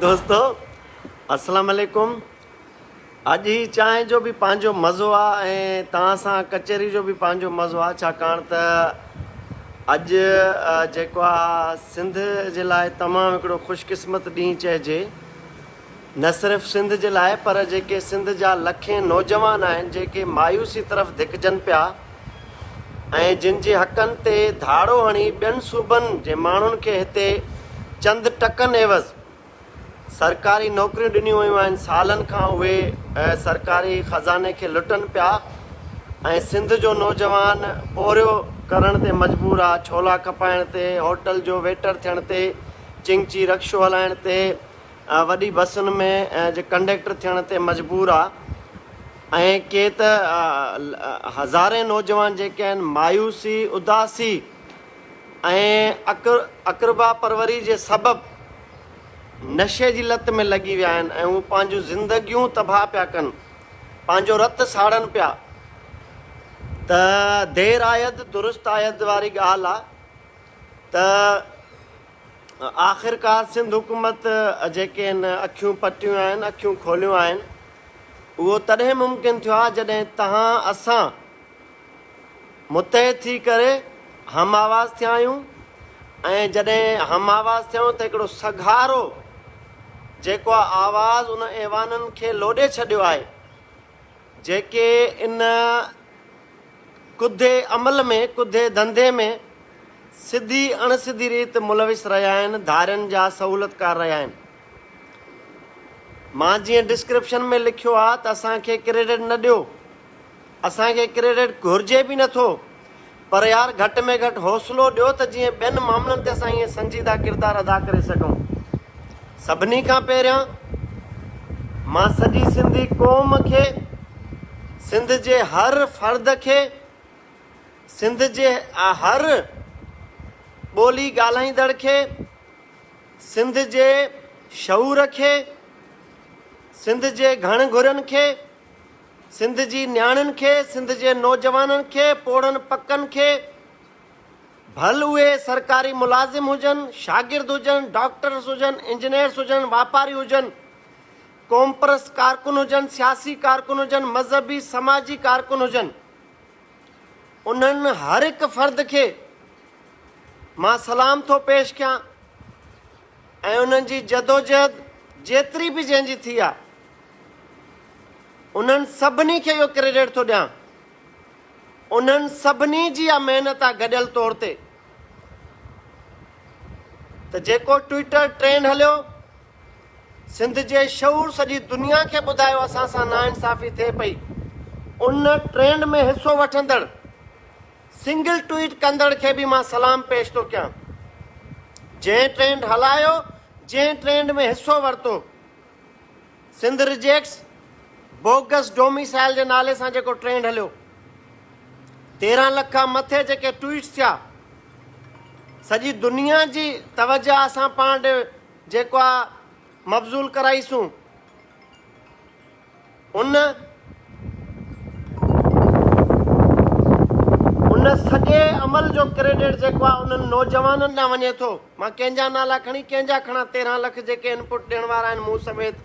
دوستو السلام عليڪم اڄ هي چانهه جو به پنهنجو مزو آ ۽ توهان سان ڪچهري جو به پنهنجو مزو آ ڇاڪاڻ ته اڄ جيڪو آ سنڌ جي لاء تمام هڪڙو خوش قسمت ڏينهن چئجي نه صرف سنڌ جي لاء پر جيڪي سنڌ جا لکين نوجوان آهن جيڪي مايوسي طرف ڌڪجن پيا ۽ جن جي حقن تي ڌاڙو هڻي ٻين صوبن جي ماڻهن کي هتي چند ٽڪن عيوض سرڪاري نوڪريون ڏنيون ويون آهن سالن کان اهي سرڪاري خزاني کي لٽن پيا ۽ سنڌ جو نوجوان پورهيو ڪرڻ تي مجبور آ ڇولا کپائڻ تي هوٽل جو ويٽر ٿيڻ تي چنگچي رڪشو هلائڻ تي وڏي بسن ۾ جي ڪنڊيڪٽر ٿيڻ تي مجبور آ ۽ ڪي ته هزارين نوجوان جيڪي آهن مايوسي اداسي ۽ اقربا پروري جي سبب نشي جي لت ۾ لڳي ويا آهن ۽ هو پنهنجون زندگيون تباهه پيا ڪن پنهنجو رت ساڙن پيا ته دير آيد درست آيد واري ڳالهه آ ته آخرڪار سنڌ حڪومت جيڪي هن اکيون پٽيون آهن، اکيون کوليون آهن، اهو تڏهن ممڪن ٿيو آهي جڏهن تهان اسان متحد ٿي ڪري هم آواز ٿيا آهيون ۽ جڏهن هم آواز ٿيا آهيون ته هڪڙو سگهارو جيڪو آواز ان ايوانن کي لوڏي ڇڏيو آهي جيڪي ان ڪڌي عمل ۾ ڪڌي ڌنڌي ۾ سڌي اڻ سڌي ريت ملوث رهيا آهن ڌارين جا سهولتڪار رهيا آهن مان جيئن ڊسڪرپشن ۾ لکيو آهي ته اسان کي ڪريڊٽ نه ڏيو اسان کي ڪريڊٽ گهرجي به نٿو پر يار گهٽ ۾ گهٽ حوصلو ڏيو ته جيئن ٻين معاملن تي اسان ائين سنجيده ڪردار ادا ڪري سگهون. سڀني کان پهريان مان سڄي سنڌي قوم کي، سنڌ جي هر فرد کي، سنڌ جي هر ٻولي ڳالهائيندڙ کي، سنڌ جي شعور کي، سنڌ جي گهڻ گهرين کي، سنڌ جي نياڻين کي، سنڌ جي نوجوانن کي، پوڙهن پڪن کي، ڀل اهي سرڪاري ملازم هجن، شاگرد هجن، ڊاڪٽرس هجن، انجنيئرس هجن، واپاري هجن، قومپرست ڪارڪن هجن، سياسي ڪارڪن هجن، مذهبي سماجي ڪارڪن هجن، انهن هر هڪ فرد کي مان سلام ٿو پيش ڪيان ۽ انهن جي جدوجهد جيتري به جنهن جي ٿي آ، انهن سڀني کي اهو ڪريڊٽ ٿو ڏيان. انهن سڀني جي اها محنت آهي گڏيل طور تي ته جيڪو ٽوئيٽر ٽرينڊ هليو سنڌ جي شعور سڄي دنيا کي ٻڌايو اسان سان ناانصافي ٿئي پئي ان ٽرينڊ ۾ حصو وٺندڙ سنگل ٽوئيٽ ڪندڙ کي به مان سلام پيش ٿو ڪيان جنهن ٽرينڊ هلايو جنهن ٽرينڊ ۾ حصو ورتو سنڌ رجيڪٽس بوگس ڊوميسائل جي نالي سان جيڪو ٽرينڊ هليو تيرهن لک کان مٿي جيڪي ٽويٽس ٿيا سڄي دنيا جي توجه اسان پاڻ ڏي جيڪو مبذول ڪرائيسون ان ان سڄي عمل جو ڪريڊٽ جيڪو آهي انهن نوجوانن ڏانهن وڃي ٿو. مان ڪنهن جا نالا کڻي ڪنهن جا کڻان تيرهن لک جيڪي انپٽ ڏيڻ وارا آهن مون سميت.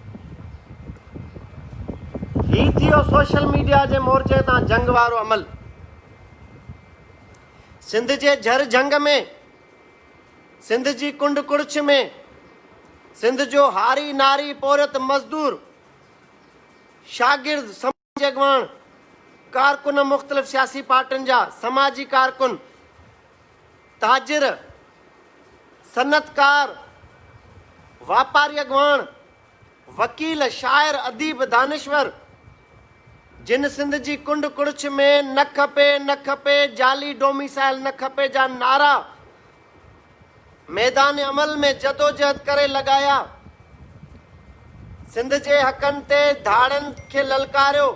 هي ٿي ويو سوشل ميڊيا جي مورچي تان جنگ وارو عمل. سنڌ جي جھر جھنگ ۾ سنڌ جي ڪنڊ ڪڙڇ ۾ سنڌ جو هاري ناري پورهيت مزدور شاگرد، سماجي اڳواڻ، ڪارڪن مختلف سياسي پارٽين جا، سماجي ڪارڪن، تاجر، صنعتڪار، واپاري اڳواڻ، وڪيل، شاعر، اديب، دانشور جن سنڌ جي ڪنڊ ڪڙڇ ۾ نه کپي نه کپي جعلي ڊوميسائل نه کپي جا نعرا ميدان عمل ۾ جدوجهد ڪري لڳايا، سنڌ جي حقن تي ڌاڙن کي للڪاريو،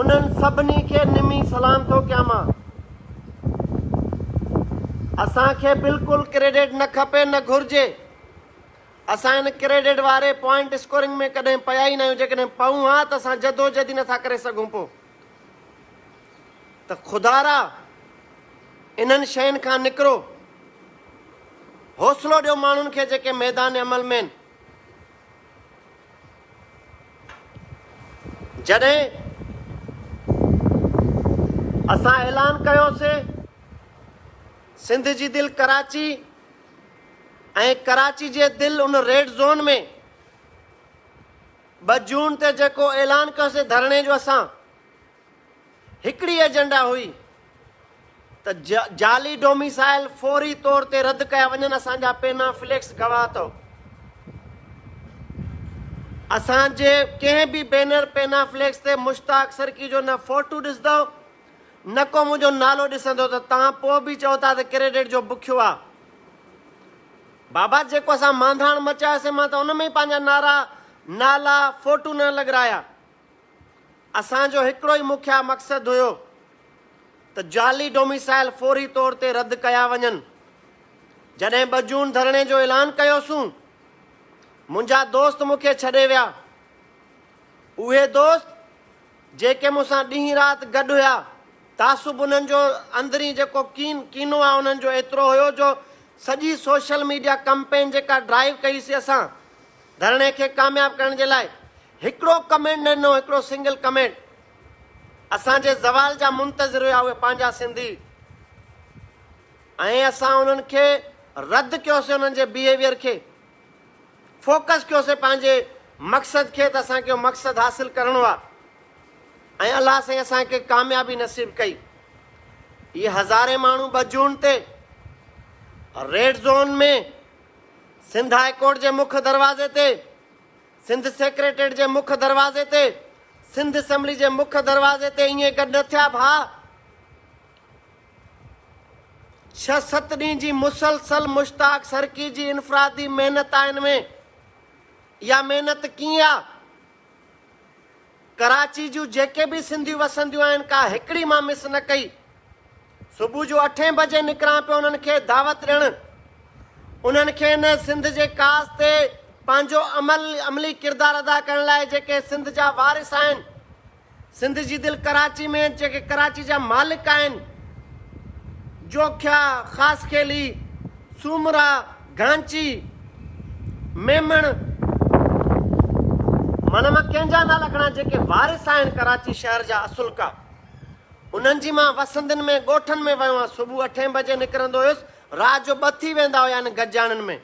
انهن سڀني کي نمي سلام ٿو ڪيان مان. اسان کي بلڪل ڪريڊٽ نه کپي نه گهرجي، اسان ان ڪريڊٽ واري پوائنٽ اسڪورنگ ۾ ڪڏهن پيا ئي ناهيون، جيڪڏهن پئون ها ته اسان جدوجهد ئي نٿا ڪري سگهون پو. ته خدارا انهن شين کان نڪرو، حوصلو ڏيو ماڻهن کي جيڪي ميدان عمل ۾ آهن. جڏهن اسان اعلان ڪيو سي سنڌ جي دل ڪراچي ۽ ڪراچي جي دل ان ريڊ زون ۾ ٻه جون تي جيڪو اعلان ڪيوسين ڌرڻي جو اسان هڪڙي ايجنڊا هئي ته جعلي ڊوميسائل فوري طور تي رد ڪيا وڃن اسان جا پينا فليڪس گواهه اٿو اسان جي ڪنهن به بينر پينا فليڪس تي مشتاق سرڪي جو نه فوٽو ڏسندو نه کو منهنجو نالو ڏسندو ته تان پوء به چئو ٿا ته ڪريڊٽ جو بکيو آ بابا جيڪو اسان مانڌاڻ مچاياسين مان ته ان ۾ ئي پنهنجا نعرا، نالا، فوٽو نه لڳرايا. اسان جو هڪڙو ئي مکيه مقصد هيو ته جعلي ڊوميسائل فوري طور تي رد ڪيا وڃن. جڏهن ٻه جون ڌرڻي جو اعلان ڪيوسون، منهنجا دوست مون کي ڇڏي ويا. اهي دوست جيڪي مون سان ڏينهن رات گڏ هيا، تعصب انهن جو اندرين جيڪو ڪين، ڪينو آ انهن جو ايترو هيو جو سڄي سوشل ميڊيا ڪمپين جيڪا ڊرائيو ڪئي سي اسان ڌرڻي کي ڪامياب ڪرڻ جي لاء هڪڙو ڪمينٽ نه ڏنو هڪڙو سنگل ڪمينٽ اسان جي زوال جا منتظر هيا اهي پنهنجا سنڌي ۽ اسان انهن کي رد ڪيو سي انهن جي بيهيويئر کي. فوڪس ڪيوسين پنهنجي مقصد کي ته اسان کي اهو مقصد حاصل ڪرڻو آهي ۽ الله سائين اسان کي ڪاميابي نصيب ڪئي هي هزارين ماڻهو ٻه جون تي red zone ۾ Sindh high court جي مک دروازي تي سنڌ سيڪريٽريٽ جي مک دروازي تي سنڌ اسمبلي جي مک دروازي تي ائين گڏ نه ٿيا ڀاء ڇهه ست ڏينهن جي مسلسل مشتاق سرڪي جي انفرادي محنت آهي ان ۾ اها محنت ڪيئن آ؟ ڪراچي جون جيڪي به سنڌيون وسنديون آهن ڪا هڪڙي مان مس نه ڪئي صبح جو اٺين بجي نڪران پيو انهن کي دعوت ڏيڻ انهن کي ان سنڌ جي ڪاس تي پنهنجو عمل عملي ڪردار ادا ڪرڻ لاء جيڪي سنڌ جا وارث آهن سنڌ جي دل ڪراچي ۾ جيڪي ڪراچي جا مالڪ آهن، جوکيا، خاصخيلي، سومرا، گهانچي، ميمڻ، معنيٰ مان ڪنهن جا نالا کڻان جيڪي وارث آهن ڪراچي شهر جا اصلڪا انهن جي مان وسندين ۾ ڳوٺن ۾ ويو آهيان صبح اٺين بجي نڪرندو هيس رات جو ٻه ٿي ويندا هيا انهن گجاڻين ۾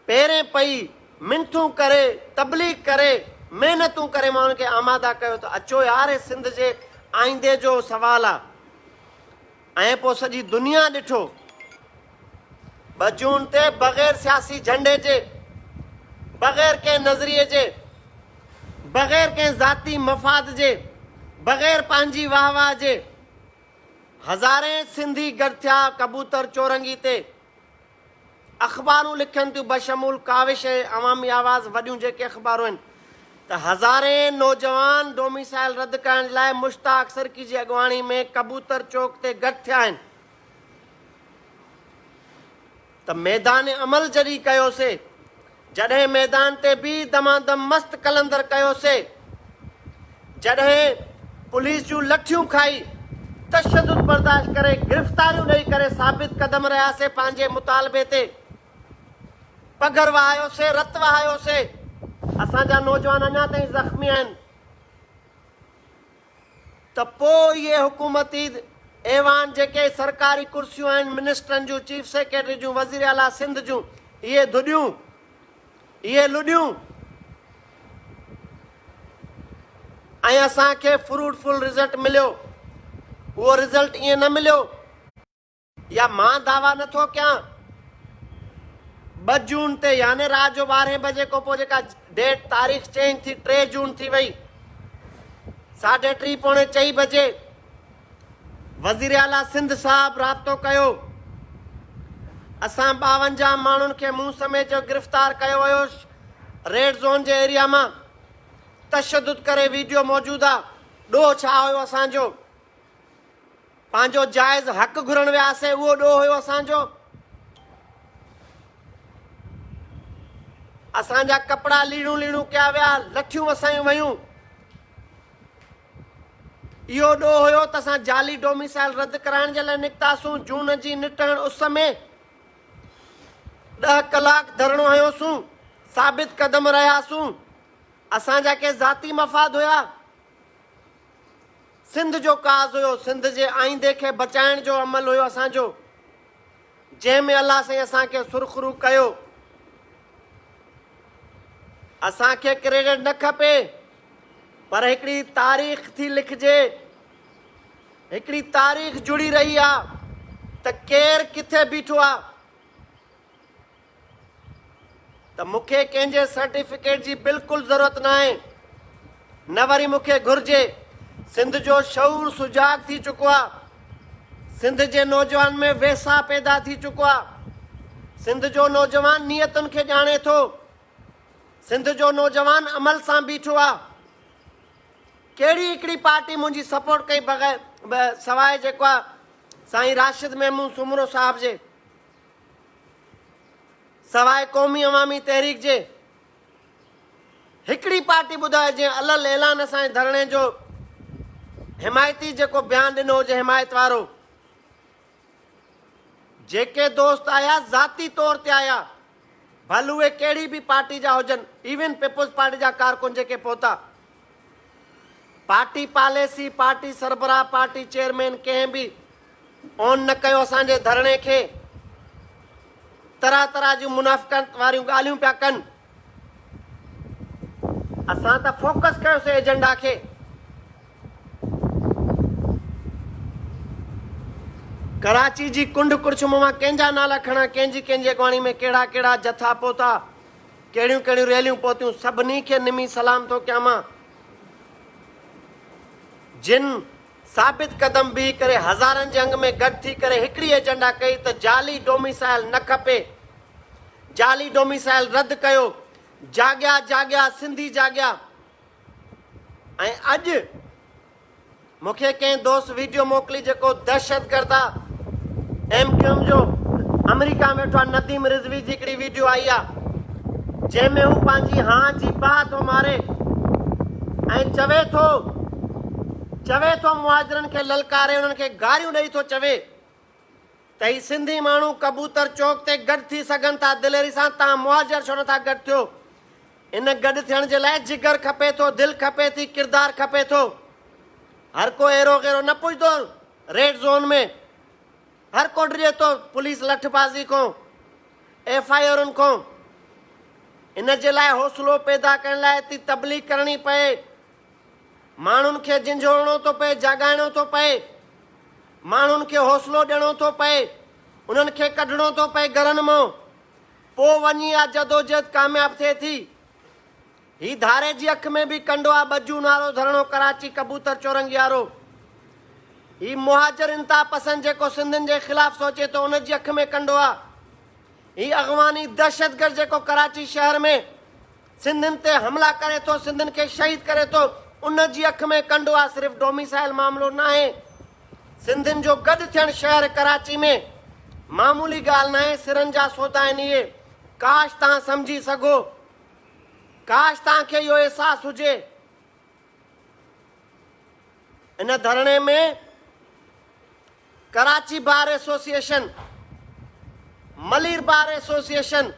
پهرين پئي منٿون ڪري، تبليغ ڪري، محنتون ڪري ماڻهن کي آماده ڪيو ته اچو يار هي سنڌ جي آئيندي جو سوال آ ۽ پوء سڄي دنيا ڏٺو ٻه جون تي بغير سياسي جهنڊي جي، بغير ڪنهن نظريي جي، بغير ڪنهن ذاتي مفاد جي، بغير پنهنجي واهه واهه جي هزارين سنڌي گڏ ٿيا ڪبوتر چورنگي تي. اخبارون لکن ٿيون بشمول ڪاوش ۽ عوامي آواز وڏيون جيڪي اخبارون آهن ته هزارين نوجوان ڊوميسائل رد ڪرائڻ جي لاء مشتاق سرڪي جي اڳواڻي ۾ ڪبوتر چوڪ تي گڏ ٿيا آهن ته ميدان عمل جڏهن ڪيوسي جڏهن ميدان تي بي دمادم مست قلندر ڪيو سي جڏهن پوليس جون لٺيون کائي تشدد برداشت ڪري گرفتاريون ڏئي ڪري ثابت قدم رهيا سي پنهنجي مطالبي تي پگهر وهايو سي رت وهايو سي اسان جا نوجوان اڃا تائين زخمي آهن. ته پوء اهي حڪومتي ايوان جيڪي سرڪاري ڪرسيون آهن، منسٽرن جون، چيف سيڪريٽري جون، وزير اعليٰ سنڌ جون، اهي ڌڏيون، اهي لڏيون ۽ اسان کي فروٽ فل رزلٽ مليو، اهو رزلٽ ائين نه مليو. يا مان دعويٰ نه ٿو ڪيان ٻه جون تي يعني رات جو ٻارهين بجي کان پوء جيڪا ڊيٽ تاريخ چينج ٿي ٽي جون ٿي وئي ساڍي ٽي پوڻي چئي بجي وزير اعليٰ سنڌ صاحب رابطو ڪيو اسان ٻاونجاهه ماڻهن کي مون سميت جو گرفتار ڪيو ويو ريڊ زون جي ايريا مان تشدد ڪري ويڊيو موجود آ ڏوهه ڇا هيو اسان جو پنهنجو جائز حق گهرڻ وياسين اهو ڏوهه هيو اسان جو اسان جا ڪپڙا ليڻو ليڻو ڪيا ويا لٺيون وسايون ويون اهو ڏوهه هيو ته اسان جعلي ڊوميسائل رد ڪرائڻ جي لاء نڪتاسون جون جي نٽهڻ اس ۾ ڏهه ڪلاڪ ڌرڻو هنيوسون ثابت قدم رهياسون اسان جا ڪي ذاتي مفاد هيا سنڌ جو ڪاز هيو، سنڌ جي آئيندي کي بچائڻ جو عمل هيو اسان جو، جنهن ۾ الله سائين اسان کي سرخرو ڪيو. اسان کي ڪريڊٽ نه کپي پر هڪڙي تاريخ ٿي لکجي، هڪڙي تاريخ جڙي رهي آ ته ڪير ڪٿي بيٺو آ. ته مون کي ڪنهن جي سرٽيفڪيٽ جي بلڪل ضرورت ناهي نه وري مون کي گهرجي سنڌ جو شعور سجاڳ ٿي چڪو آ سنڌ جي نوجوان ۾ ويساهه پيدا ٿي چڪو آ سنڌ جو نوجوان نيتن کي ڄاڻي ٿو سنڌ جو نوجوان عمل سان بيٺو آ ڪهڙي هڪڙي پارٽي منهنجي سپورٽ ڪئي بغير سواء جيڪو آ سائين راشد محمود سومرو صاحب جي سواء قومي عوامي تحريڪ جي هڪڙي پارٽي ٻڌايو جنهن الل اعلان اسان جي ڌرڻي جو حمايتي جيڪو بيان ڏنو هجي حمايت وارو جيڪي دوست آيا ذاتي طور تي آيا ڀل اهي ڪهڙي به پارٽي جا هجن ايون پيپلز پارٽي جا ڪارڪن جيڪي پهتا پارٽي پاليسي، پارٽي سربراهه، پارٽي چيئرمين ڪنهن به اون نه ڪيو اسان جي ڌرڻي کي، طرح طرح جون منافقت واريون ڳالهيون پيا ڪن، اسان ته فوڪس ڪيوسي ايجنڊا کي، ڪراچي جي ڪنڊ ڪڙڇ مان مان ڪنهن جا نالا کڻان، ڪنهن جي ڪنهن جي اڳواڻي ۾ ڪهڙا ڪهڙا جٿا پهتا، ڪهڙيون ڪهڙيون ريليون پهتيون سڀني کي نمي سلام ٿو ڪيان مان جن ثابت قدم بيهي ڪري هزارن جي انگ ۾ گڏ ٿي ڪري هڪڙي ايجنڊا ڪئي ته جعلي ڊوميسائل نه کپي جعلي ڊوميسائل رد ڪيو جاڳيا جاڳيا سنڌي جاڳيا. ۽ اڄ مون کي ڪنهن دوست ويڊيو موڪلي جيڪو دهشتگرد آ ايم ڪيو ايم جو آمريڪا ۾ ويٺو آ نديم رضوي جي هڪڙي ويڊيو آئي آ جنهن ۾ هو پنهنجي هان جي باهه ٿو ماري ۽ چوي ٿو چوي ٿو مهاجرن کي للڪاري انهن کي گاريون ڏئي ٿو چوي ته هي سنڌي ماڻهو ڪبوتر چوڪ تي گڏ ٿي سگهن ٿا دليري سان توهان مهاجر ڇو نٿا گڏ ٿيو ان گڏ ٿيڻ جي لاء جگر کپي ٿو دل کپي ٿي ڪردار کپي ٿو هر ڪو ايرو غيرو نه پڄندو ريڊ زون ۾ هر ڪو ڊڄي ٿو پوليس لٺ بازي کان ايف آئي آرن کان ان جي لاء حوصلو پيدا ڪرڻ لاء تي تبليغ ڪرڻي پئي ماڻهن کي جنجهوڙڻو ٿو پئي، جاڳائڻو ٿو پئي، ماڻهن کي حوصلو ڏيڻو ٿو پئي، انهن کي ڪڍڻو ٿو پئي گهرن مان، پوء وڃي اها جدوجهد ڪامياب ٿئي ٿي. هي ڌاري جي اک ۾ به ڪنڊو آ ٻجون وارو ڌرڻو ڪراچي ڪبوتر چورنگيارو. هي مهاجر انتها پسند جيڪو سنڌين جي خلاف سوچي ٿو ان جي اک ۾ ڪنڊو آ. هي اغواني دهشتگرد جيڪو ڪراچي شهر ۾. سنڌين تي حملا ڪري ٿو سنڌين کي شهيد ڪري ٿو ان جي اک ۾ ڪنڊو آ صرف ڊوميسائل معاملو ناهي سنڌين جو گڏ ٿيڻ شهر ڪراچي ۾ معمولي ڳالهه ناهي سرن جا سودا آهن اهي ڪاش تان سمجهي سگهو ڪاش تان کي اهو احساس هجي ان ڌرڻي ۾ Karachi bar association, Malir bar association,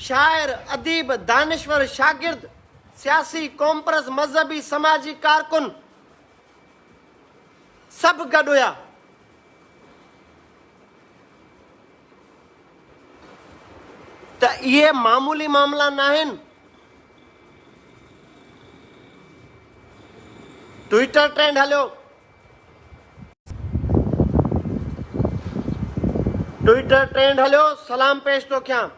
شاعر، اديب، دانشور، شاگرد، سياسي، قومپرست، مذهبي، سماجي ڪارڪن سڀ گڏ هيا. ته اهي معمولي معاملا ناهن. ٽوئيٽر ٽرينڊ هليو. ٽوئيٽر ٽرينڊ هليو سلام پيش ٿو ڪيان.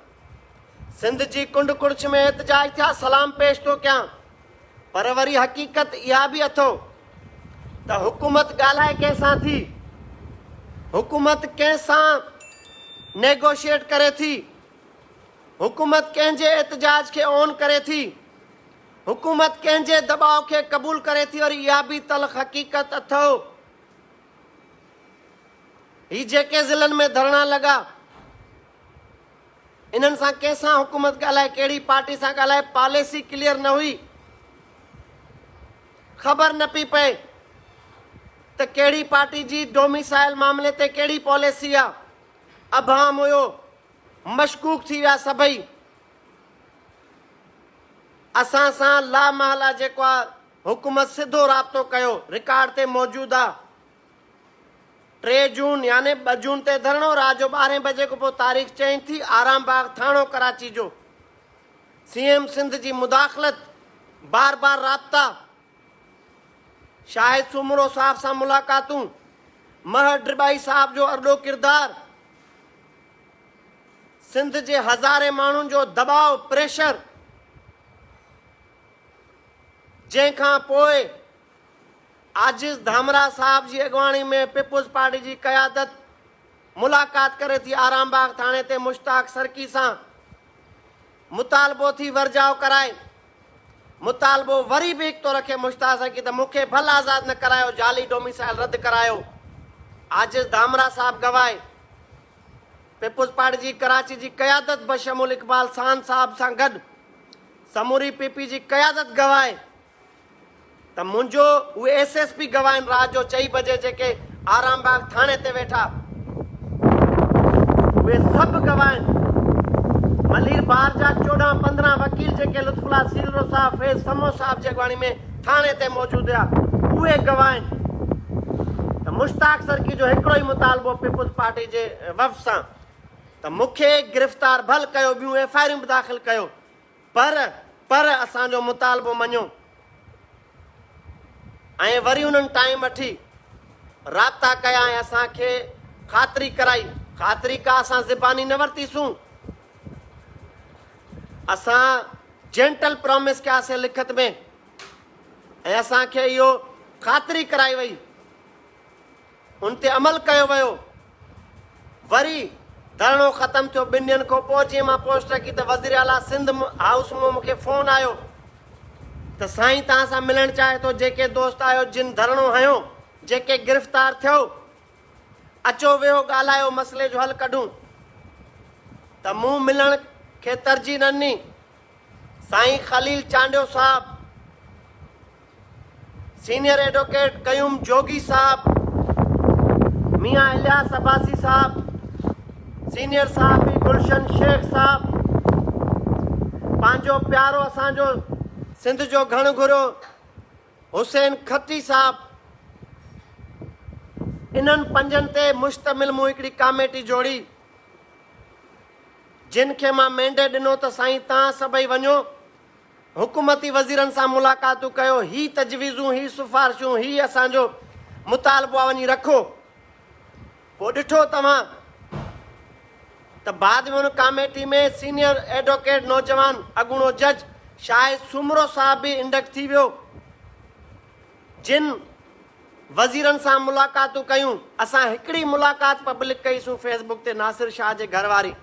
سنڌ جي ڪنڊ ڪڙڇ ۾ احتجاج ٿيا سلام پيش ٿو ڪيان پر وري حقيقت اها به اٿو ته حڪومت ڳالهائي ڪنهن سان ٿي حڪومت ڪنهن سان نيگوشيٽ ڪري ٿي حڪومت ڪنهن جي احتجاج کي اون ڪري ٿي حڪومت ڪنهن جي دٻاء کي قبول ڪري ٿي وري اها به تلخ حقيقت اٿو هي جيڪي ضلعن ۾ ڌرڻا لڳا انهن سان ڪنهن سان حڪومت ڳالهائي ڪهڙي پارٽي سان ڳالهائي پاليسي ڪليئر نه هئي خبر نه پئي پئي ته ڪهڙي پارٽي جي ڊوميسائل معاملي تي ڪهڙي پاليسي آ ابهام هيو مشڪوڪ ٿي ويا سڀئي اسان سان لا محل آ جيڪو آ حڪومت سڌو رابطو ڪيو رڪارڊ تي موجود آ ٽي جون يعني ٻه جون تي ڌرڻو رات جو ٻارهين بجي کان پوء تاريخ چينج ٿي، آرام باغ ٿاڻو ڪراچي جو سي ايم سنڌ جي مداخلت، بار بار رابطا، شاهد سومرو صاحب سان ملاقاتون، مهر ڊٻائي صاحب جو ارڏو ڪردار، سنڌ جي هزارين ماڻهن جو دٻاء پريشر جنهن کان پوء عاجز ڌامراهه صاحب جي اڳواڻي ۾ پيپلز پارٽي جي قيادت ملاقات ڪري ٿي آرام باغ ٿاڻي تي مشتاق سرڪي سان مطالبو ٿي ورجاء ڪرائي مطالبو وري به هڪ ٿو رکي مشتاق سرڪي ته مون کي ڀل آزاد نه ڪرايو جعلي ڊوميسائل رد ڪرايو عاجز ڌامراهه صاحب گواهي پيپلز پارٽي جي ڪراچي جي قيادت بشمول اقبال سان صاحب سان گڏ سموري پي پي جي قيادت گواهي ته منهنجو اهي ايس ايس پي گواهين رات جو چئي بجي جيڪي آرام باغ ٿاڻي تي ويٺا اهي سڀ گواهين ملير بار جا چوڏهن پندرهن وڪيل جيڪي لطف الله سيلرو صاحب فيض سمو صاحب جي اڳواڻي ۾ ٿاڻي تي موجود هيا اهي گواهين ته مشتاق سرڪي جو هڪڙو ئي مطالبو پيپلز پارٽي جي وفد سان ته مونکي گرفتار ڀل ڪيو ٻيون ايف آئريون به داخل ڪيو پر پر اسان جو مطالبو مڃو ۽ وري انهن ٽائيم اٺي رابطا ڪيا ۽ اسان کي خاطري ڪرائي خاطري ڪا اسان زباني نه ورتيسون اسان جينٽل پرامس ڪياسي لکت ۾ ۽ اسان کي اهو خاطري ڪرائي وئي ان تي عمل ڪيو ويو. وري ڌرڻو ختم ٿيو ٻن ڏينهن کان پوء جي مان پوسٽ رکي ته وزير اعليٰ سنڌ هائوس مان مونکي فون آيو ته سائين توهان سان ملڻ چاهي ٿو جيڪي دوست آهيو جن ڌرڻو هنيو جيڪي گرفتار ٿيو اچو ويهو ڳالهايو مسئلي جو حل ڪڍون ته مون ملڻ کي ترجيح نه ڏني. سائين خليل چانڊيو صاحب، سينئر ايڊوڪيٽ قيوم جوڳي صاحب، ميان الياس عباسي صاحب، سينئر صحافي گلشن شيخ صاحب، پنهنجو پيارو اسان جو سنڌ جو گهڻ گهرو حسين کٽي صاحب، انهن پنجن تي مشتمل مون هڪڙي ڪاميٽي جوڙي، جن کي مان مينڊيٽ ڏنو ته سائين تان سڀئي وڃو، حڪومتي وزيرن سان ملاقاتون ڪيو، هي تجويزون، هي سفارشون، هي اسان جو مطالبوا وڃي رکو، پوء ڏٺو توهان ته بعد ۾ ان ڪاميٽي ۾ سينيئر ايڊوڪيٽ نوجوان اڳوڻو جج شاهد سومرو صاحب به انڊڪٽ ٿي ويو، جن وزيرن سان ملاقاتون ڪيون، اسان هڪڙي ملاقات پبلڪ ڪئي سون فيس بڪ تي ناصر شاهه جي گهر واري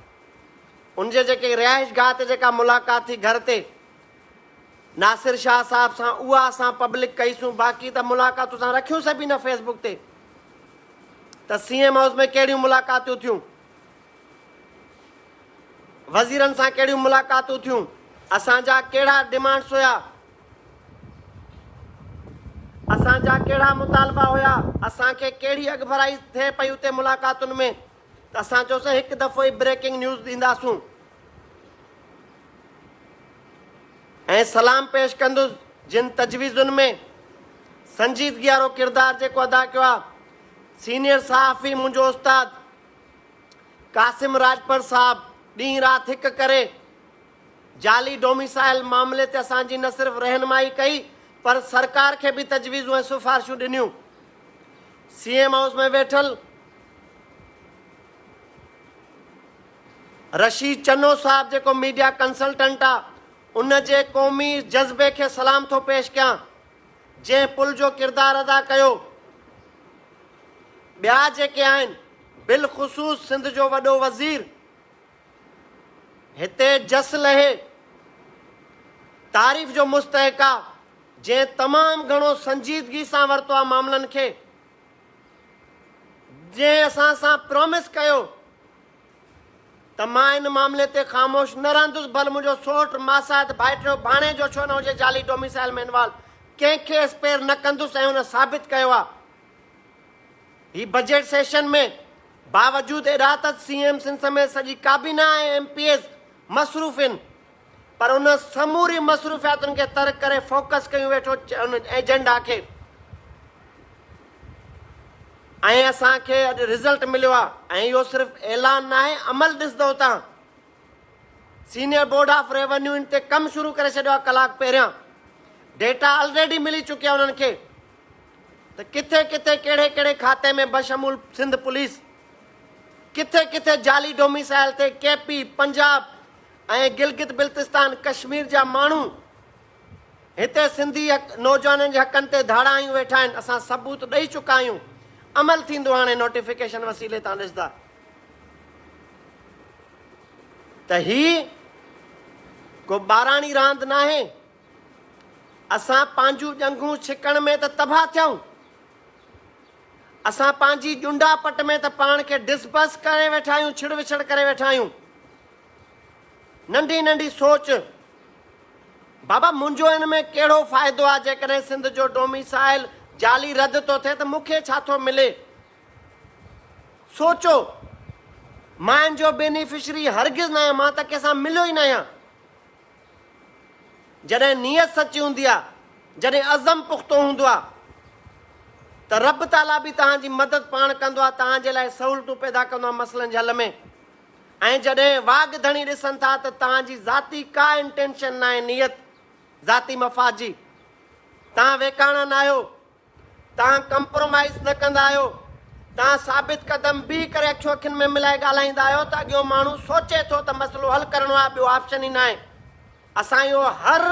ان جي جيڪي رهائش گاهه تي جيڪا ملاقات ٿي گهر تي ناصر شاهه صاحب سان اها اسان پبلڪ ڪئي سون باقي ته ملاقاتون اسان رکيون سڀ ئي نه فيس بڪ تي ته سي ايم هائوس ۾ ڪهڙيون ملاقاتون ٿيون وزيرن سان ڪهڙيون ملاقاتون ٿيون اسان جا ڪهڙا ڊيمانڊس هيا اسان جا ڪهڙا مطالبا هيا، اسان کي ڪهڙي اڳڀرائي ٿئي پئي اتي ملاقاتن ۾ ته اسان چيوسين هڪ دفعو ئي بريڪنگ نيوز ڏينداسون ۽ سلام پيش ڪندس جن تجويزن ۾ سنجيدگي وارو ڪردار جيڪو ادا ڪيو آهي سينيئر صحافي منهنجو استاد قاسم راڄپر صاحب ڏينهن رات هڪ ڪري جعلي ڊوميسائيل معاملي تي اسان جي نه صرف رهنمائي ڪئي پر سرڪار کي به تجويزون ۽ سفارشون ڏنيون. سي ايم هائوس ۾ ويٺل رشيد چنو صاحب جيڪو ميڊيا ڪنسلٽنٽ آ ان جي قومي جذبي کي سلام ٿو پيش ڪيان جنهن پل جو ڪردار ادا ڪيو ٻيا جيڪي آهن بلخصوص سنڌ جو وڏو وزير هتي جس لهي تعريف جو مستحق آ جنهن تمام گهڻو سنجيدگي سان ورتو آ معاملن کي جنهن اسان سان پرومس ڪيو ته مان ان معاملي تي خاموش نه رهندس ڀل منهنجو سوٽ ماسات ڀائٽيو ڀاڻيجو ڇو نه هجي جعلي ڊوميسائل ۾ انوالو ڪنهن کي اسپير نه ڪندس ۽ ان ثابت ڪيو آ هي بجيٽ سيشن ۾ باوجود اڏاوت سي ايم سنڌ سميت سڄي ڪابينا ۽ ايم پي ايز مصروف هين پر ان سمورين مصروفياتن کي ترڪ ڪري فوڪس ڪيون ويٺو ان ايجنڊا کي ۽ اسان کي اڄ رزلٽ مليو آ ۽ اهو صرف اعلان ناهي عمل ڏسندو تان سينيئر بورڊ آف ريونيو ان تي ڪم شروع ڪري ڇڏيو آ ڪلاڪ پهريان ڊيٽا آلريڊي ملي چڪي آ انهن کي ته ڪٿي ڪٿي ڪهڙي ڪهڙي کاتي ۾ بشمول سنڌ پوليس ڪٿي ڪٿي جعلي ڊوميسائل تي ڪي پي، پنجاب ۽ گلگت بلتستان ڪشمير جا ماڻهو هتي سنڌي نوجوانن جي حقن تي ڌاڙا هنيون ويٺا آهن اسان ثبوت ڏئي چڪا آهيون عمل ٿيندو هاڻي نوٽيفڪيشن وسيلي تان ڏسندا ته هي ڪو ٻاراڻي راند ناهي اسان پنهنجون ڄنگهون ڇڪڻ ۾ ته تباهه ٿيائون، اسان پنهنجي ڄنڊا پٽ ۾ ته پاڻ کي ڊس بس ڪري ويٺا آهيون، ڇڙ وڇڙ ڪري ويٺا آهيون. ننڍي ننڍي سوچ، بابا منهنجو ان ۾ ڪهڙو فائدو آهي، جيڪڏهن سنڌ جو ڊوميسائل جعلي رد ٿو ٿئي ته مون کي ڇا ٿو ملي؟ سوچو، مان ان جو بينيفشري هرگز ناهيان، مان ته ڪنهن سان مليو ئي ناهيان. جڏهن نيت سچي هوندي آهي، جڏهن عزم پختو هوندو آهي ته رب تعاليٰ به توهان جي مدد پاڻ ڪندو آهي، توهان جي لاء سهولتون پيدا ڪندو آهي مسئلن جي حل ۾ ۽ جڏهن واڳ ڌڻي ڏسن ٿا ته توهان جي ذاتي ڪا انٽينشن ناهي نيت ذاتي مفاد جي توهان ويڪاڻا ناهيو، توهان ڪمپرومائيز نه ڪندا آهيو، توهان ثابت قدم بيهي ڪري اکيون اکين ۾ ملائي ڳالهائيندا آهيو ته اڳيون ماڻهو سوچي ٿو ته مسئلو حل ڪرڻو آهي ٻيو آپشن ئي ناهي. اسان اهو هر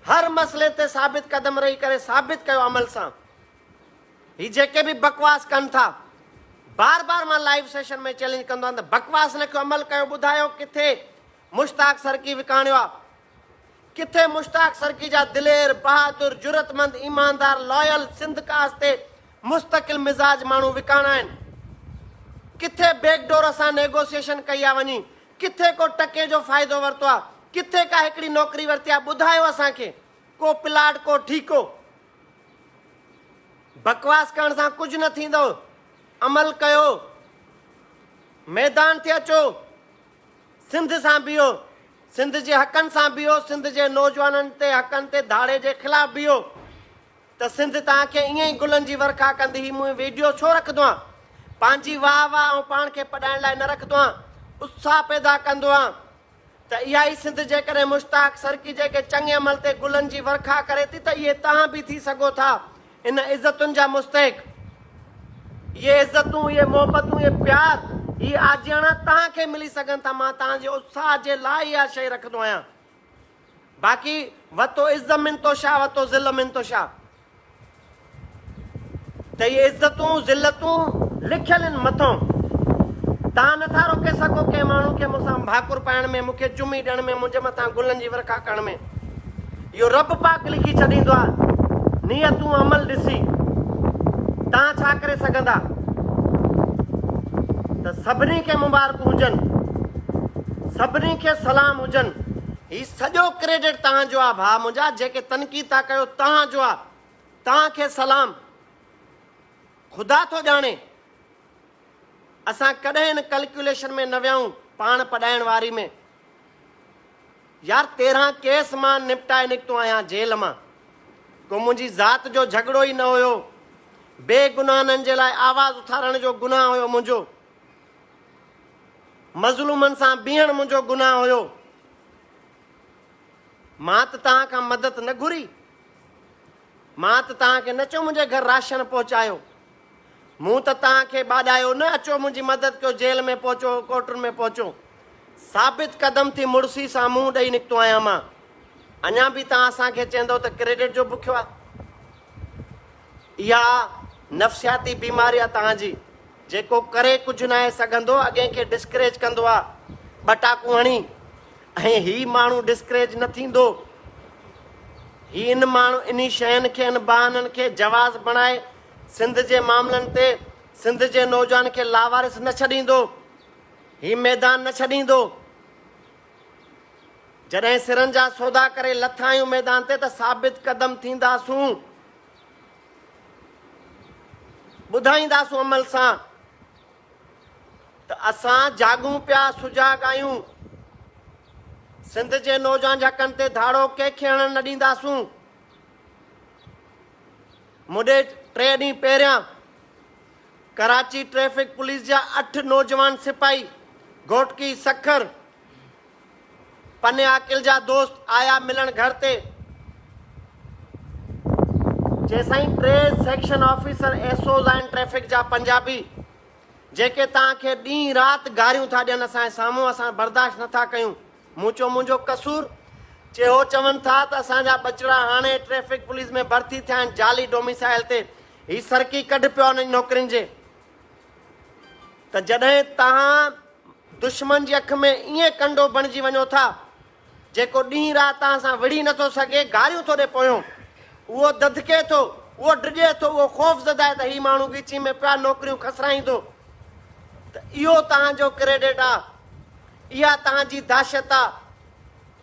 هر مسئلي تي ثابت قدم رهي ڪري ثابت ڪيو عمل سان. هي جيڪي به بڪواس ڪن ٿا بار بار مان لائيو سيشن ۾ چئلينج ڪندو آهيان ته بڪواس نه ڪيو عمل ڪيو ٻڌايو ڪٿي مشتاق سرڪي وڪاڻيو آهي ڪٿي مشتاق سرڪي جا دلير، بهادر، جرئتمند، ايماندار، لايل، سنڌ ڪاس تي مستقل مزاج ماڻهو وڪاڻا آهن. ڪٿي بيڪ ڊور سان نيگوسيئيشن ڪئي آ وڃي، ڪٿي ڪو ٽڪي جو فائدو ورتو آ، ڪٿي ڪا هڪڙي نوڪري ورتي آ، ٻڌايو اسان کي، ڪو پلاٽ، ڪو ٺيڪو. بڪواس ڪرڻ سان ڪجهه نه ٿيندو، عمل ڪيو، ميدان تي اچو، سنڌ سان بيهو، سنڌ جي حقن سان بيهو، سنڌ جي نوجوانن تي حقن تي ڌاڙي جي خلاف بيهو ته سنڌ توهان کي ائين ئي گلن جي ورکا ڪندي هي مون ويڊيو ڇو رکندو آهيان پنهنجي واهه واهه آئون پاڻ کي پڏائڻ لاء نه رکندو آهيان اتساهه پيدا ڪندو آهيان ته اها ئي سنڌ جيڪڏهن مشتاق سرڪي جيڪي چڱي عمل تي گلن جي ورکا ڪري ٿي ته اهي توهان به ٿي سگهو ٿا ان عزتن جا مستحق، اهي عزتون، اهي محبتون، اهي پيار، هي آجياڻا توهان کي ملي سگهن ٿا، مان توهان جي اتساهه جي لاء اها شيء رکندو آهيان. باقي وتو عز من تشاء وتو ذل من تشاء ته اهي عزتون، ذلتون لکيل آهن مٿئون. توهان نه ٿا روڪي سگهو ڪنهن ماڻهو کي مون سان ڀاڪر پائڻ ۾، مون کي چمي ڏيڻ ۾، منهنجي مٿان گلن جي ورکا ڪرڻ ۾. اهو رب پاڪ لکي ڇڏيندو آهي نيتون عمل ڏسي تان ڇا ڪري سگهندا ته سڀني کي مبارڪون هجن سڀني کي سلام هجن هي سڄو ڪريڊٽ تان جو آهي ڀاء منهنجا جيڪي تنقيد ٿا ڪيو تان جو آهي تان کي سلام خدا ٿو ڄاڻي اسان ڪڏهن ان ڪلڪيوليشن ۾ نه ويائون پاڻ پڏائڻ واري ۾ يار تيرهن ڪيس مان نپٽائي نڪتو آهيان جيل مان ڪو منهنجي ذات جو جهڳڙو ئي نه هيو بي گناهنن جي لاء آواز اٿارڻ جو گناهه هيو منهنجو مظلومن سان بيهڻ منهنجو گناهه هيو مان ته توهان کان مدد نه گهري مان ته توهان کي نه اچو منهنجي گهر راشن پهچايو مون ته توهان کي ٻاڏايو نه اچو منهنجي مدد ڪيو جيل ۾ پهچو ڪوٽن ۾ پهچو ثابت قدم ٿي مڙسي سان منهن ڏئي نڪتو آهيان مان اڃا به توهان اسان کي چيندو ته ڪريڊٽ جو بکيو آهي اها نفسياتي بيماري آهي توهان جي جيڪو ڪري ڪجهه ناهي سگهندو اڳين کي ڊسڪريج ڪندو آ ٻه ٽاڪون هڻي ۽ هي ماڻهو ڊسڪريج نه ٿيندو هي ان ماڻهو انهي شين کي ان بهانن کي جواز بڻائي سنڌ جي معاملن تي سنڌ جي نوجوان کي لاوارث نه ڇڏيندو هي ميدان نه ڇڏيندو جڏهن سرن جا سودا ڪري لٿا آهيون ميدان تي ته ثابت قدم ٿينداسون ٻڌائينداسون عمل سان ته اسان جاڳون پيا، سجاڳ آهيون. سنڌ جي نوجوان جي حقن تي ڌاڙو ڪنهن کي هڻڻ نه ڏينداسون. مڏي ٽي ڏينهن پهريان ڪراچي ٽريفڪ پوليس جا اٺ نوجوان سپاهي گهوٽڪي سکر پني عاقل جا دوست آيا ملڻ گهر تي. جيسائين T section officer S Os آهن ٽريفڪ جا پنجابي جيڪي توهان کي ڏينهن رات گاريون ٿا ڏين اسان جي سامهون اسان برداشت نه ٿا ڪيون. مون چيو منهنجو قصور؟ چي هو چون ٿا ته اسان جا ٻچڙا هاڻي ٽريفڪ پوليس ۾ ڀرتي ٿيا آهن جعلي ڊوميسائل تي هي سرڪي ڪڍ پيو آهن نوڪرين جي. ته جڏهن توهان دشمن جي اک ۾ ائين ڪنڊو بڻجي وڃو ٿا، جيڪو ڏينهن رات توهان سان وڙهي نٿو سگهي، گاريون ٿو ڏي پويون، اهو دڌڪي ٿو، اهو ڊڄي ٿو، اهو خوفزده آهي ته هي ماڻهو ڳچيء ۾ پيا نوڪريون کسرائيندو، ته اهو توهان جو ڪريڊٽ آ، اها توهان جي دهشت آ،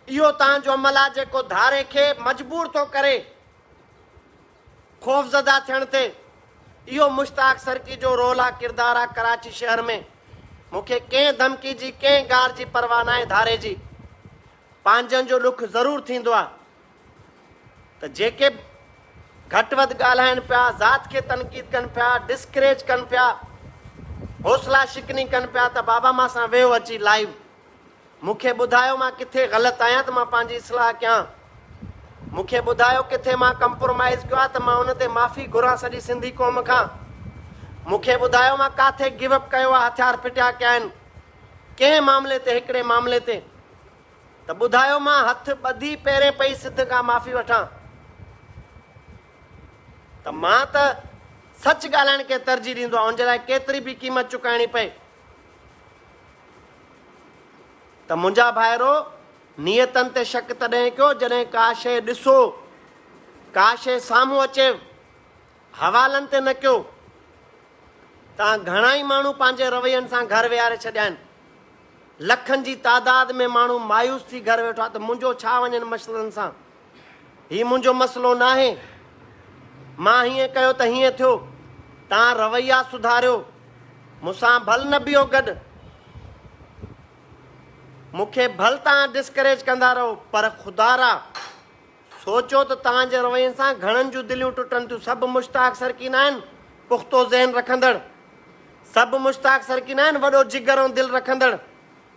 اهو توهان جو عمل آ، جيڪو ڌاري کي مجبور ٿو ڪري. خوفزده ٿيڻ تي اهو مشتاق سرڪي جو رول آ ڪردار آ ڪراچي شهر ۾ مون کي ڪنهن ڌمڪي جي ڪنهن گار جي پرواهه ناهي ڌاري جي پنهنجن جو ڏک ضرور ٿيندو آ ته جيڪي به گهٽ وڌ ڳالهائن پيا ذات کي تنقيد ڪن پيا ڊسڪريج ڪن پيا حوصلا شڪني ڪن پيا ته بابا مان سان ويهو اچي لائيو مون کي ٻڌايو مان ڪٿي غلط آهيان ته مان پنهنجي اصلاح ڪيان. مون کي ٻڌايو ڪٿي مان ڪمپرومائيز ڪيو آهي ته مان ان تي معافي گهران سڄي سنڌي قوم کان. مون کي ٻڌايو مان ڪاٿي گيو اپ ڪيو آهي هٿيار ڦٽيا ڪيا آهن ڪنهن معاملي تي هڪڙي معاملي تي ته ٻڌايو مان هٿ ٻڌي پيرين پئي سڌ کان معافي وٺان ته مان ته سچ ڳالهائڻ کي ترجيح ڏيندو آهيان ان جي لاء ڪيتري به قيمت چڪائڻي پئي. ته منهنجا ڀائرو! نيتن تي شڪ تڏهن ڪيو جڏهن ڪا شيء ڏسو، ڪا شيء سامهون اچي. حوالن تي نه ڪيو. تان گهڻا ئي ماڻهو پنهنجي روين سان گهر ويهاري ڇڏيا آهن. لکن جي تعداد ۾ ماڻهو مايوس ٿي گهر ويٺا ته منهنجو ڇا وڃن مشلن سان. هي منهنجو مسئلو ناهي. مان هيئن ڪيو ته هيئن ٿيو. توهان رويا سڌاريو. مون سان ڀل نه بيهو گڏ. مون کي ڀل توهان ڊسڪريج ڪندا رهو پر خدارا سوچو ته توهان جي روين سان گهڻن جون دليون ٽٽن ٿيون. سڀ مشتاق سرڪي ناهن پختو ذهن رکندڙ. سڀ مشتاق سرڪي ناهن وڏو جگر ۽ دل رکندڙ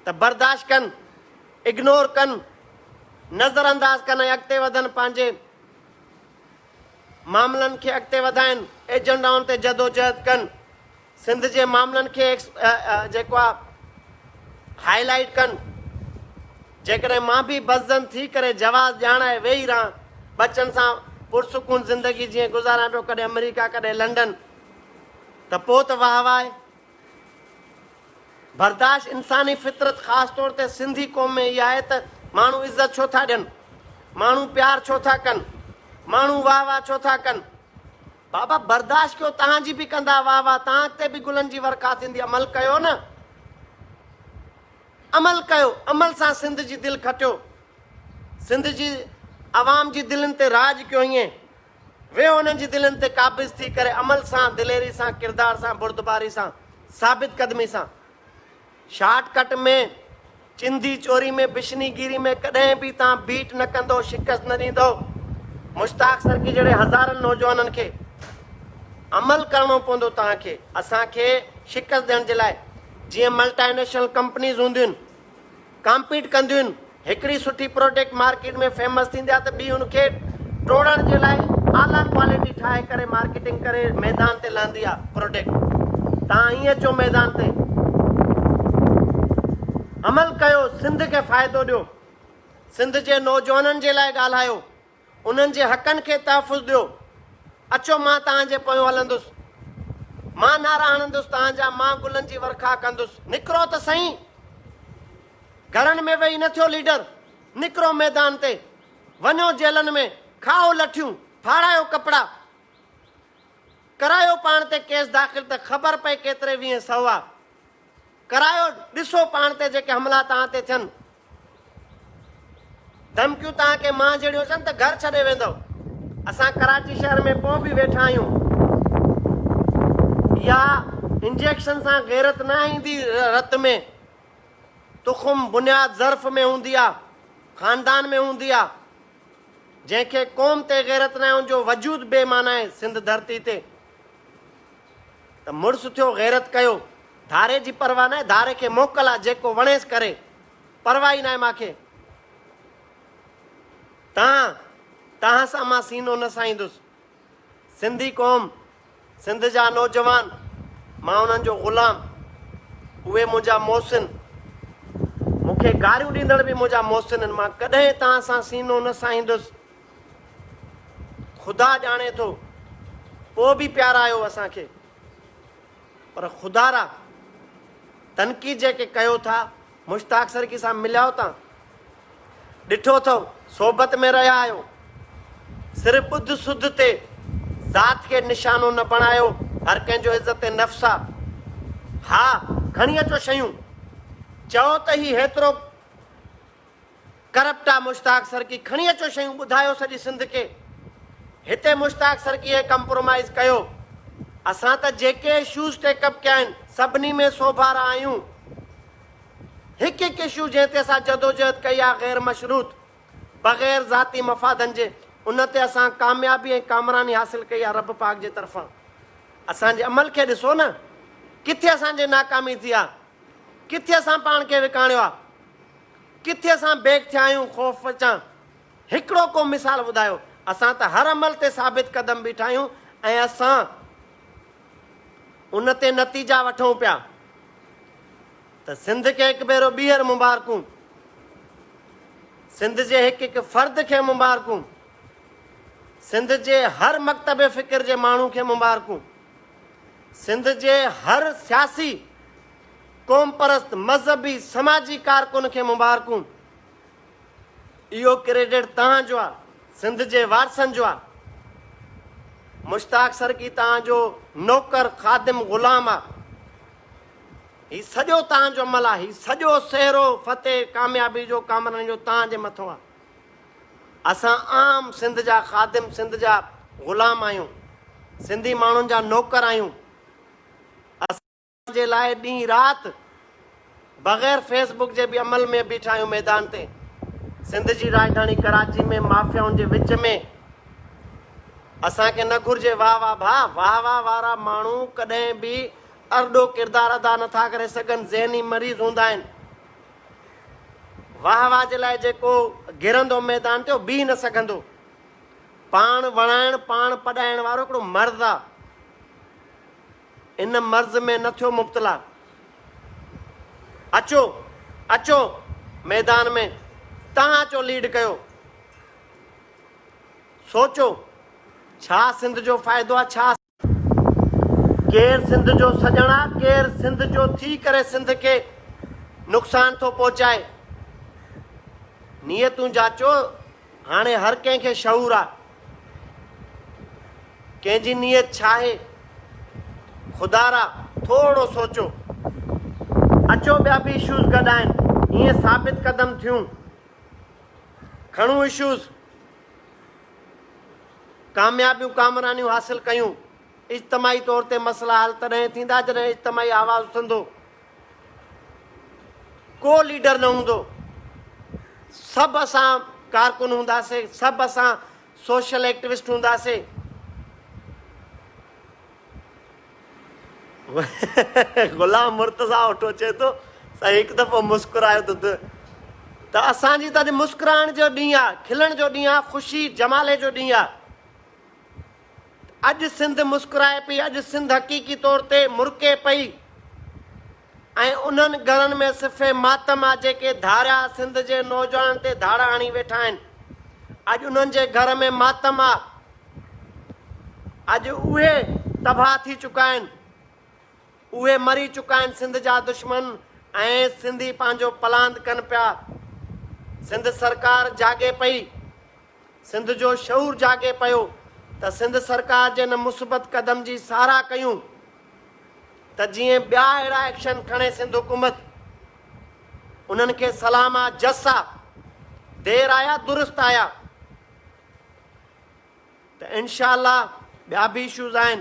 ته برداشت ڪن. اگنور ڪن، نظر انداز ڪن ۽ اڳتي وڌن، پنهنجي معاملن کي اڳتي وڌائين، ايجنڊائن تي جدوجهد ڪن، سنڌ جي معاملن کي جيڪو آ هائي لائيٽ ڪن، جيڪڏهن مان به بسجن ٿي ڪري جواز ڄاڻائي ويهي رهان، ٻچن سان پرسڪون زندگي جيئن گذاريان پيو ڪڏهن آمريڪا ڪڏهن لنڊن ته پوء ته واهه واهه. برداشت انساني فطرت خاص طور تي سنڌي قوم ۾ اها آهي ته ماڻهو عزت ڇو ٿا ڏين؟ ماڻهو پيار ڇو ٿا ڪن؟ ماڻهو واهه واهه ڇو ٿا ڪن؟ بابا برداشت ڪيو توهان جي به ڪندا واهه واهه توهان اڳتي به گلن جي ورکا ٿيندي عمل ڪيو نه عمل ڪيو عمل سان سنڌ جي دل کٽيو سنڌ جي عوام جي دلين تي راڄ ڪيو ائين ويهو انهن جي دلين تي قابض ٿي ڪري عمل سان، دليري سان، ڪردار سان، بردباري سان، ثابت قدمي سان. شارٽ ڪٽ ۾ چندي چوري ۾ بشني گيري ۾ ڪڏهن به تان بيٽ نه ڪندو، شڪست نه ڏيندو. مشتاق سرڪي جهڙي هزارن نوجوانن کي عمل ڪرڻو پوندو تان کي، اسان کي شڪست ڏيڻ جي لاء جيئن ملٽائي نيشنل ڪمپنيز هونديون ڪامپيٽ ڪنديون هڪڙي سٺي پروڊڪٽ مارڪيٽ ۾ فيمس ٿيندي آ ته ٻي ان کي ٽوڙڻ جي لاء اعليٰ ڪوالٽي ٺاهي ڪري مارڪيٽنگ ڪري ميدان تي لاندي آ پروڊڪٽ تان ائين اچو ميدان تي عمل ڪيو سنڌ کي فائدو ڏيو سنڌ جي نوجوانن جي لاء ڳالهايو انهن جي حقن کي تحفظ ڏيو. اچو مان توهان جي پويون هلندس. مان نعرا هڻندس توهان جا، مان گلن جي ورکا ڪندس. نڪرو ته سهين! گهرن ۾ ويهي نه ٿيو ليڊر، نڪرو ميدان تي، وڃو جيلن ۾، کائو لٺيون، ڦاڙايو ڪپڙا، ڪرايو پاڻ تي ڪيس داخل ته خبر پئي ڪيتري ويهين سهوا. ڪرايو ڏسو پاڻ تي جيڪي حملا توهان تي ٿين ڌمڪيون توهان کي مان جهڙيون اچن ته گهر ڇڏي ويندو اسان ڪراچي شهر ۾ پو به ويٺا آهيون يا انجيڪشن سان غيرت نه ايندي رت ۾ تخم بنياد ظرف ۾ هوندي آ خاندان ۾ هوندي آ جنهن کي قوم تي غيرت نه ان جو وجود بي معنی آهي سنڌ ڌرتي تي ته مڙس ٿيو غيرت ڪيو. ڌاري جي پرواهه ناهي ڌاري کي موڪل آ جيڪو وڻيس ڪري پرواهه ئي ناهي مانکي تان تان سان مان سينو نه سائيندس سنڌي قوم سنڌ جا نوجوان مان انهن جو غلام اهي منهنجا محسن مونکي گاريون ڏيندڙ به منهنجا محسن ان مان ڪڏهن تان سان سينو نه سائيندس خدا ڄاڻي ٿو پوء به پيارايو اسان کي پر خدا را تنقيد جيڪي ڪيو ٿا مشتاق سرڪي سان مليا آهيو تان ڏٺو اٿو صحبت ۾ رهيا آهيو صرف ٻڌ سڌ تي ذات کي نشانو نه بڻايو هر ڪنهن جو عزت نفس آ ها کڻي اچو شيون چئو ته هي هيترو ڪرپٽ آ مشتاق سرڪي کڻي اچو شيون ٻڌايو سڄي سنڌ کي هتي مشتاق سرڪي ڪمپرومائز ڪيو اسان ته جيڪي اشوز ٽيڪ اپ ڪيا آهن سڀني ۾ سوڀارا آهيون هڪ هڪ اشو جنهن تي اسان جدوجهد ڪئي آ غير مشروط بغير ذاتي مفادن جي ان تي اسان ڪاميابي ۽ ڪامراني حاصل ڪئي آ رب پاڪ جي طرفان اسان جي عمل کي ڏسو نه ڪٿي اسان جي ناڪامي ٿي آ ڪٿي اسان پاڻ کي وڪاڻيو آ. ڪٿي اسان بيڪ ٿيا آهيون خوف چان هڪڙو ڪو مثال ٻڌايو اسان ته هر عمل تي ثابت قدم بيٺا آهيون ۽ اسان ان تي نتيجا وٺون پيا ته سنڌ کي هڪ ڀيرو ٻيهر مبارڪون سنڌ جي هڪ هڪ فرد کي مبارڪون سنڌ جي هر مڪتب فڪر جي ماڻهو کي مبارڪون سنڌ جي هر سياسي قومپرست مذهبي سماجي ڪارڪن کي مبارڪون اهو ڪريڊٽ توهان جو آ سنڌ جي وارثن جو آ مشتاق سرڪي توهان جو نوڪر خادم غلام آ هي سڄو توهان جو عمل آ هي سڄو سهرو فتح ڪاميابي جو ڪامرن جو توهان جي مٿو آ اسان عام سنڌ جا خادم سنڌ جا غلام آهيون سنڌي ماڻهن جا نوڪر آهيون جي لاء ڏينهن رات بغير فيس بڪ جي به عمل ۾ بيٺا آهيون ميدان تي سنڌ جي راڄڌاڻي ڪراچي ۾ مافيائن جي وچ ۾ اسان کي نه گهرجي واهه واهه ڀا واهه واهه وارا ماڻهو ڪڏهن به ارڏو ڪردار ادا نٿا ڪري سگهن ذهني مريض هوندا آهن واهه واهه جي لاء جيڪو گرندو ميدان تي اهو بيهي نه سگهندو پاڻ وڻائڻ پاڻ پڏائڻ وارو هڪڙو مرض آهي ان مرض ۾ نه ٿيو مبتلا. اچو اچو ميدان ۾ تهان اچو ليڊ ڪيو. سوچو ڇا سنڌ جو فائدو آ ڇا. ڪير سنڌ جو سڄڻ آ ڪير سنڌ جو ٿي ڪري سنڌ کي نقصان ٿو پهچائي نيتون جاچو. هاڻي هر ڪنهن کي شعور آ ڪنهن جي نيت ڇا آهي خدا را ٿورو سوچو اچو ٻيا به اشوز گڏ آهن ائين ثابت قدم ٿيون کڻون اشوز ڪاميابيون ڪامرانيون حاصل ڪيون اجتماعي طور تي مسئلا حل تڏهن ٿيندا جڏهن اجتماعي آواز اٿندو ڪو ليڊر نه هوندو، سڀ اسان ڪارڪن هونداسي، سڀ اسان سوشل ايڪٽيوسٽ هونداسي. غلام مرتضا اوٺو چئي ٿو سائين هڪ دفعو مسڪرايو ته ته اسان جي ته اڄ مسڪرائڻ جو ڏينهن آ، کلڻ جو ڏينهن آ، خوشي جمالي جو ڏينهن آ. اڄ سنڌ مسڪرائي پئي، اڄ سنڌ حقيقي طور تي مرڪي پئي ۽ انهن گهرن ۾ صف ماتم آ جيڪي ڌاريا سنڌ جي نوجوانن تي ڌاڙا هڻي ويٺا آهن، اڄ انهن جي گهر ۾ ماتم آ، اڄ اهي تباهه ٿي چڪا آهن، اهي مري چڪا آهن سنڌ جا دشمن ۽ سنڌي پنهنجو پلاند ڪن پيا، سنڌ سرڪار جاڳي پئي. سنڌ جو شعور جاڳي پيو ته سنڌ سرڪار جي ان مثبت قدم جي ساراهه ڪيون ته جيئن ٻيا اهڙا ايڪشن کڻي سنڌ حڪومت انهن کي سلام آ جس آ دير آيا درست آيا ته انشاء الله ٻيا به اشوز آهن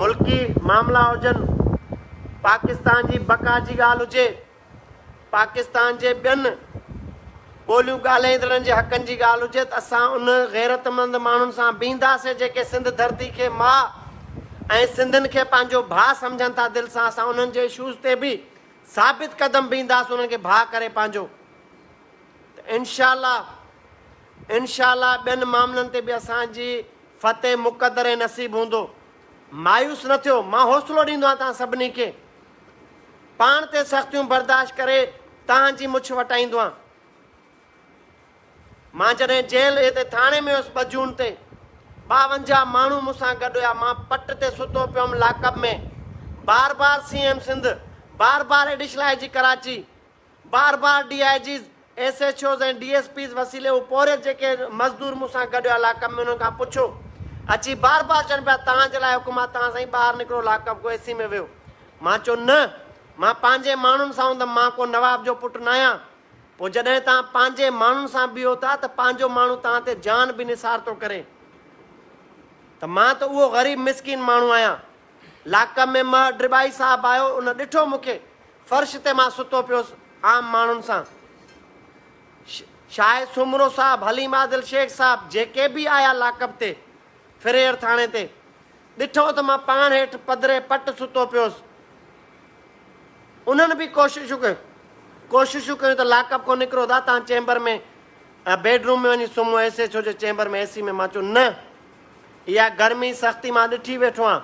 ملڪي معاملا هجن، پاڪستان جي بقا جي ڳالهه هجي، پاڪستان جي ٻين ٻوليون ڳالهائيندڙن جي حقن جي ڳالهه هجي ته اسان ان غيرتمند ماڻهن سان بيهنداسين جيڪي سنڌ ڌرتي کي ماء ۽ سنڌين کي پنهنجو ڀاء سمجهن ٿا دل سان اسان انهن جي اشوز تي به ثابت قدم بيهنداسين انهن کي ڀاء ڪري پنهنجو ته انشاء الله انشاء الله ٻين معاملن تي به اسان جي فتح مقدر ۽ نصيب هوندو. مايوس نه ٿيو، مان حوصلو ڏيندو آهيان توهان سڀني کي. پاڻ تي سختيون برداشت ڪري توهان جي مڇ وٽائيندو آهيان. مان جڏهن جيل هتي ٿاڻي ۾ هيس ٻه جون تي ٻاونجاهه ماڻهو مون سان گڏ هيا، مان پٽ تي ستو پيو هيم لاڪ اپ ۾، بار بار سي ايم سنڌ، بار بار ايڊيشل آء جي ڪراچي، بار بار D I Gs, S H Os ۽ D S Ps وسيلي هو پورهيت جيڪي مزدور مون سان گڏ الاڪ ۾ انهن کان پڇو اچي بار بار چون پيا توهان جي لاء حڪم آ توهان سائين ٻاهر نڪرو لاڪ اپ ڪو اي سي ۾ ويهو مان چيو نه مان پنهنجي ماڻهن سان هوندم مان ڪو نواب جو پٽ ناهيان پو جڏهن توهان پنهنجي ماڻهن سان بيهو ٿا ته پنهنجو ماڻهو توهان تي جان به نثار ٿو ڪري ته مان ته اهو غريب مسڪين ماڻهو آهيان لاڪ ۾ مهر ڊرٻائي صاحب آيو ان ڏٺو مون کي فرش تي مان ستو پيس عام ماڻهن سان. شاهه سومرو صاحب، حليم عادل شيخ صاحب جيڪي به آيا لاڪپ تي، فريئر ٿاڻي تي، ڏٺو ته مان پاڻ هيٺ پڌري پٽ ستو پيس. انهن به ڪوششون ڪيون. ڪوششون ڪيون ته لاڪپ کان نڪرو ٿا، تان چيمبر ۾ بيڊ روم ۾ وڃي سمهو، ايس ايڇ او جي چيمبر ۾ اي سي ۾ مان چيو نه اها گرمي سختي مان ڏٺي ويٺو آهيان.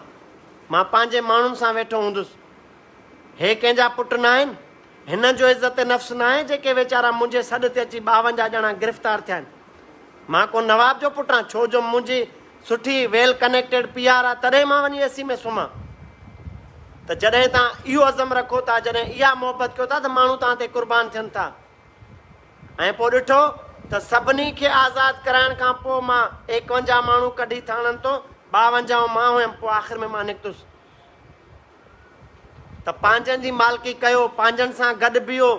مان پنهنجي ماڻهن سان ويٺو هوندس. هي ڪنهن جا پٽ ناهن؟ هنن جو عزت نفس ناهي جيڪي ويچارا منهنجي سڏ تي اچي ٻاونجاهه ڄڻا گرفتار ٿيا آهن. مان ڪو نواب جو پٽ آهيان ڇو جو منهنجي سٺي ويل ڪنيڪٽيڊ پي آر آهي تڏهن مان وڃي اي سي ۾ سمهان. ته جڏهن توهان اهو عزم رکو ٿا جڏهن اها محبت ڪيو ٿا ته ماڻهو توهان تي قربان ٿين ٿا ۽ پوء ڏٺو ته سڀني کي آزاد ڪرائڻ کان پوء مان ايڪونجاهه ماڻهو ڪڍي ٿاڻن تون ٻاونجاهون مان هيم پوء آخر ۾ مان نڪتس. ته پنهنجن جي مالڪي ڪيو، پنهنجن سان گڏ بيهو،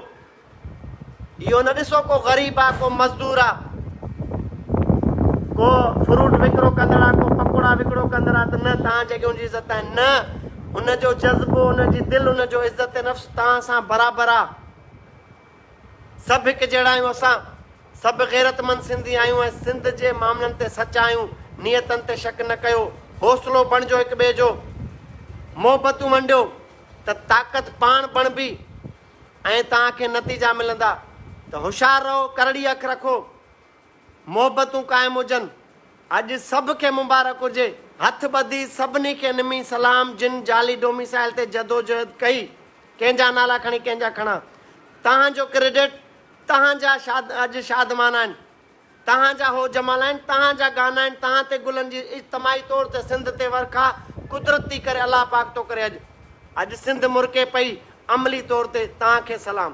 اهو نه ڏسو ڪو غريب آ، ڪو مزدور آ، ڪو فروٽ وڪرو ڪندڙ آ، ڪو پڪوڙا وڪرو ڪندڙ آ ته نه توهان جيڪي ان جي عزت آهن، نه ان جو جذبو، ان جي دل، ان جو عزت نفس توهان سان برابر آ. سڀ هڪ جهڙا آهيون اسان سڀ غيرتمند سنڌي آهيون ۽ سنڌ جي معاملن تي سچا آهيون نيتن تي شڪ نه ڪيو حوصلو بڻجو هڪ ٻئي جو محبتون ونڊيو ته طاقت پاڻ بڻبي ۽ توهان کي نتيجا ملندا ته هوشيار رهو ڪرڙي اک رکو محبتون قائم هجن اڄ سڀ کي مبارڪ هجي هٿ ٻڌي سڀني کي نمي سلام جن جعلي ڊوميسائل تي جدوجهد ڪئي ڪنهن جا نالا کڻي ڪنهن جا کڻان تهان جو ڪريڊٽ تهان جا شاد اڄ شادمان آهن تهان جا هو جمال آهن تهان جا گانا آهن تهان تي گلن جي اجتماعي طور تي سنڌ تي ورکا قدرت ٿي ڪري الله پاڪ ٿو ڪري اڄ اڄ سنڌ مرڪي پئي عملي طور تي تهان کي سلام.